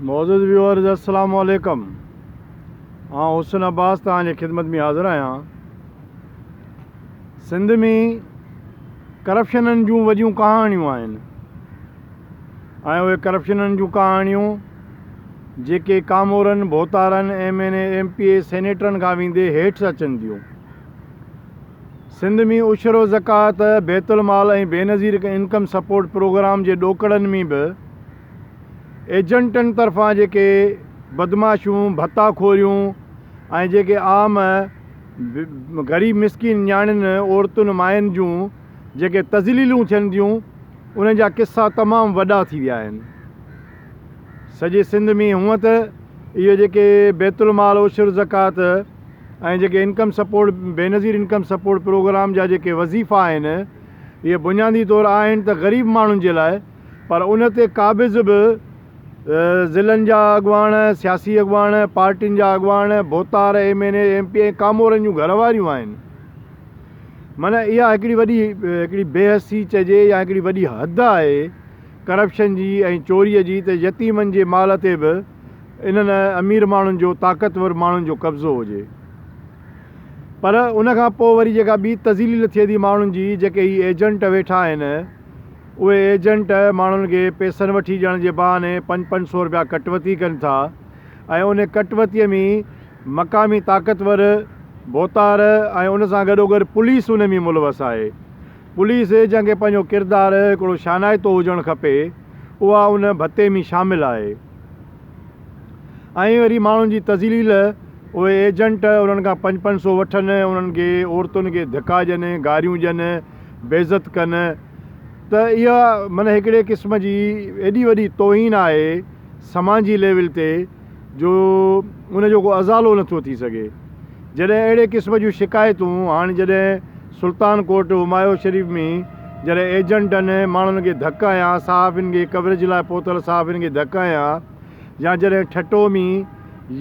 معزز ويورز السلام عليڪم آئون حسن عباس توهان جي خدمت ۾ حاضر آهيان سنڌ ۾ ڪرپشنن جون وڏيون ڪهاڻيون آهن ۽ اهي ڪرپشنن جون ڪهاڻيون جيڪي ڪامورن ڀوتارن M N A M P A سينيٽرن کان ويندي هيٺ اچن ٿيون سنڌ ۾ عشر و زڪوات بيت المال ۽ بينظير انڪم سپورٽ پروگرام جي ڏوڪڙن ۾ به ايجنٽن طرفان جيڪي بدمعاشون، ڀتا خوريون ۽ جيڪي عام غريب مسڪين نياڻين، عورتن، ماين جون جيڪي تذليلون ٿين ٿيون انهن جا قصا تمام وڏا ٿي ويا آهن. سڄي سنڌ ۾ هونئن ته اهي جيڪي بيت المال عشر زڪوات ۽ جيڪي income support Benazir income support programme جا جيڪي وظيفا آهن اهي بنيادي طور آهن ته غريب ماڻهن جي لاء، پر ان تي قابض به ضلعن جا اڳواڻ، سياسي اڳواڻ، پارٽين جا اڳواڻ، ڀوتار، M N A, M P ۽ ڪامورن جون گهر واريون آهن. معنيٰ اها هڪڙي وڏي هڪڙي بي حسي چئجي يا هڪڙي وڏي حد آهي ڪرپشن جي ۽ چوريء جي ته يتيمن جي مال تي به انهن امير ماڻهن جو طاقتور ماڻهن جو قبضو هجي. پر ان کان پوء وري جيڪا ٻي تذليل ٿئي ٿي ماڻهن جي جيڪي هي ايجنٽ ويٺا آهن، اهي ايجنٽ ماڻهن کي پيسن وٺي ڏيڻ جي بهاني پنج پنج سئو رپيا ڪٽ وتي ڪن ٿا ۽ ان ڪٽ وتي ۾ مقامي طاقتور ڀوتار ۽ ان سان گڏوگڏ پوليس ان ۾ ملوث آهي. پوليس جنهن کي پنهنجو ڪردار هڪڙو شانائتو هجڻ کپي اها ان ڀتي ۾ شامل آهي. ائين وري ماڻهن جي تذليل اهي ايجنٽ انهن کان پنج پنج سئو وٺن انهن کي عورتن کي ڌڪا ڏين گاريون ڏين بيعزت ڪن. ته اها معنيٰ هڪڙي قسم جي ايڏي وڏي توهين آهي سماجي ليول تي جو ان جو ڪو ازالو نه ٿو ٿي سگهي. جڏهن اهڙي قسم جون شڪايتون هاڻ جڏهن سلطان ڪوٽ همايو شريف ۾ جڏهن ايجنٽن ماڻهن کي ڌڪ هنيا صحافين کي ڪوريج لاء پهتل صحافين کي ڌڪ هنيا يا جڏهن ٺٽو ۾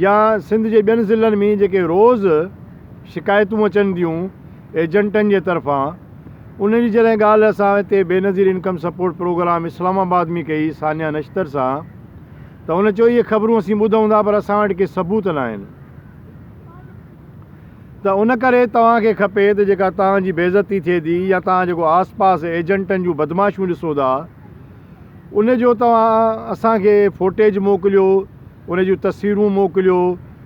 يا سنڌ جي ٻين ضلعن ۾ جيڪي روز شڪايتون اچن ٿيون ايجنٽن جي طرفان انهن جي جڏهن ڳالهه اسان هتي Benazir income support programme Islamabad ۾ ڪئي ثانيه نشتر سان ته هن چيو اهي خبرون اسين ٻڌون ٿا پر اسان وٽ ڪي ثبوت ناهن ته ان ڪري توهان کي کپي ته جيڪا توهان جي بيعزتي ٿئي ٿي يا توهان جيڪو آس پاس ايجنٽن جون بدمعاشيون ڏسو ٿا ان جو توهان اسان کي فوٽيج موڪليو، ان جون تصويرون موڪليو،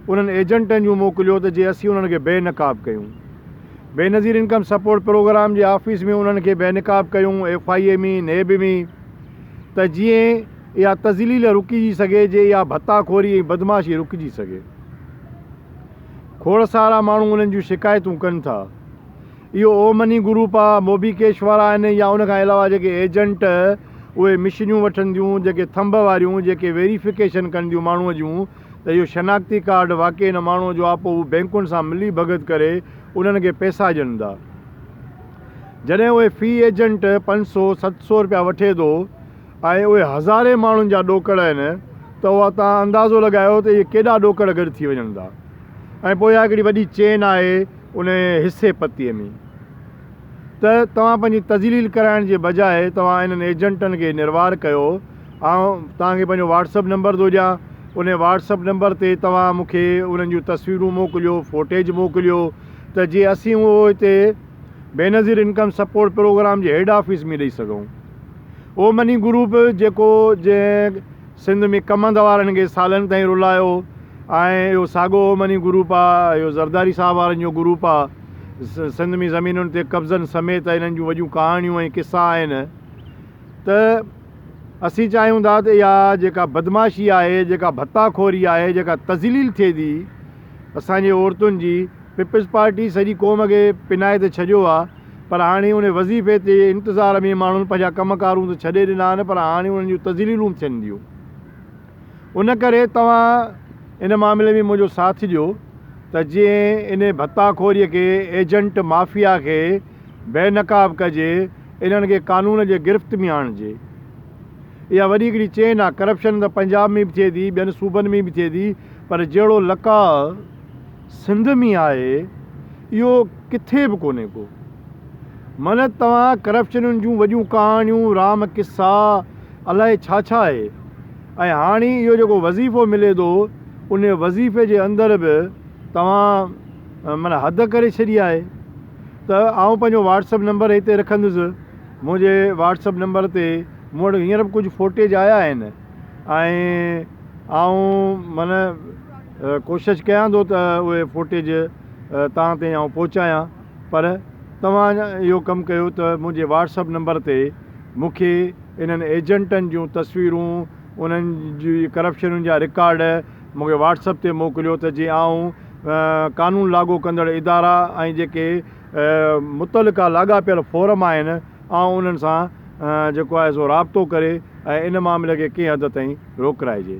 انهن ايجنٽن جون موڪليو ته جي اسين انهن کي بي نقاب ڪيون. بينظير انڪم سپورٽ پروگرام جي آفيس ۾ انهن کي بي نقاب ڪيون، ايف آء اي ۾، نيب ۾ ته جيئن اها تذليل رڪجي سگهي، جي اها ڀتا خوري ۽ بدمعاشي رڪجي سگهي. کوڙ سارا ماڻهو انهن جون شڪايتون ڪن ٿا. اهو او مني گروپ آ، موبي ڪيش وارا آهن يا ان کان علاوه جيڪي ايجنٽ اهي مشينيون وٺنديون جيڪي ٿنڀ واريون جيڪي ويريفڪيشن ڪنديون ماڻهو جون ته اهو شناختي ڪارڊ واقعي ان ماڻهو جو آ پو هو بينڪن سان ملي ڀڳت ڪري انهن کي پيسا ڏين ٿا جڏهن اهي في ايجنٽ پنج سو ست سو رپيا وٺي ٿو ۽ اهي هزارين ماڻهن جا ڏوڪڙ آهن ته اها توهان اندازو لڳايو ته اهي ڪيڏا ڏوڪڙ گڏ ٿي وڃن ٿا ۽ پو اها هڪڙي وڏي چين آهي. انهيء حصي پتيء ۾، ته توهان پنهنجي تذليل ڪرائڻ جي بجاء توهان انهن ايجنٽن کي نروار ڪيو. آئون توهان کي پنهنجو واٽس اپ نمبر ٿو ڏيان. انهيء واٽس اپ نمبر تي توهان مون کي انهن جون تصويرون موڪليو، فوٽيج موڪليو، ته جيئن اسين اهو هتي بينظير انڪم سپورٽ پروگرام جي هيڊ آفيس ۾ ڏئي سگهون. اهو مني گروپ جيڪو جنهن سنڌ ۾ ڪمند وارن کي سالن تائين رلايو ۽ اهو ساڳو اومني گروپ آ اهو زرداري صاحب وارن جو گروپ آ سنڌ ۾ زمينن تي قبضن سميت انهن جون وڏيون ڪهاڻيون ۽ قصا آهن ته اسين چاهيون ٿا ته اها جيڪا بدمعاشي آهي جيڪا ڀتا خوري آهي جيڪا تذليل ٿئي ٿي اسان جي عورتن جي پيپلز پارٽي سڄي قوم کي پنائي ته ڇڏيو آ پر هاڻي ان وظيفي تي انتظار ۾ ماڻهن پنهنجا ڪم ڪارون ته ڇڏي ڏنا آهن پر هاڻي انهن جون تذليلون ٿين ٿيون ان ڪري توهان ان معاملي ۾ منهنجو ساٿ ڏيو ته جئين ان ڀتا خوري کي ايجنٽ مافيا کي بي نقاب ڪجي انهن کي قانون جي گرفت ۾ آڻجي اها وڏي هڪڙي چين آ ڪرپشن ته پنجاب ۾ به ٿئي ٿي ٻين صوبن ۾ به ٿئي ٿي پر جهڙو لقاء سنڌ ۾ آهي اهو ڪٿي به ڪونهي ڪو. من توهان ڪرپشنن جون وڏيون ڪهاڻيون، رام قصا، الائي ڇا ڇا آهي ۽ هاڻي اهو جيڪو وظيفو ملي ٿو ان وظيفي جي اندر به توهان من حد ڪري ڇڏي آهي ته آئون پنهنجو واٽسپ نمبر هتي رکندس منهنجي واٽسپ نمبر تي مون وٽ هينئر به ڪجهه فوٽيج آيا آهن. ۽ آئون من ڪوشش ڪيان ٿو ته اهي فوٽيج توهان تائين آئون پهچايان پر توهان اهو ڪم ڪيو ته منهنجي واٽسپ نمبر تي مونکي انهن ايجنٽن جون تصويرون انهن جي ڪرپشنن جا رڪارڊ مونکي واٽسپ تي موڪليو ته جي آئون قانون لاڳو ڪندڙ ادارا ۽ جيڪي متعلقه لاڳاپيل فورم آهن آئون انهن سان جيڪو آهي سو رابطو ڪري ۽ ان معاملي کي ڪنهن حد تائين روڪرائجي.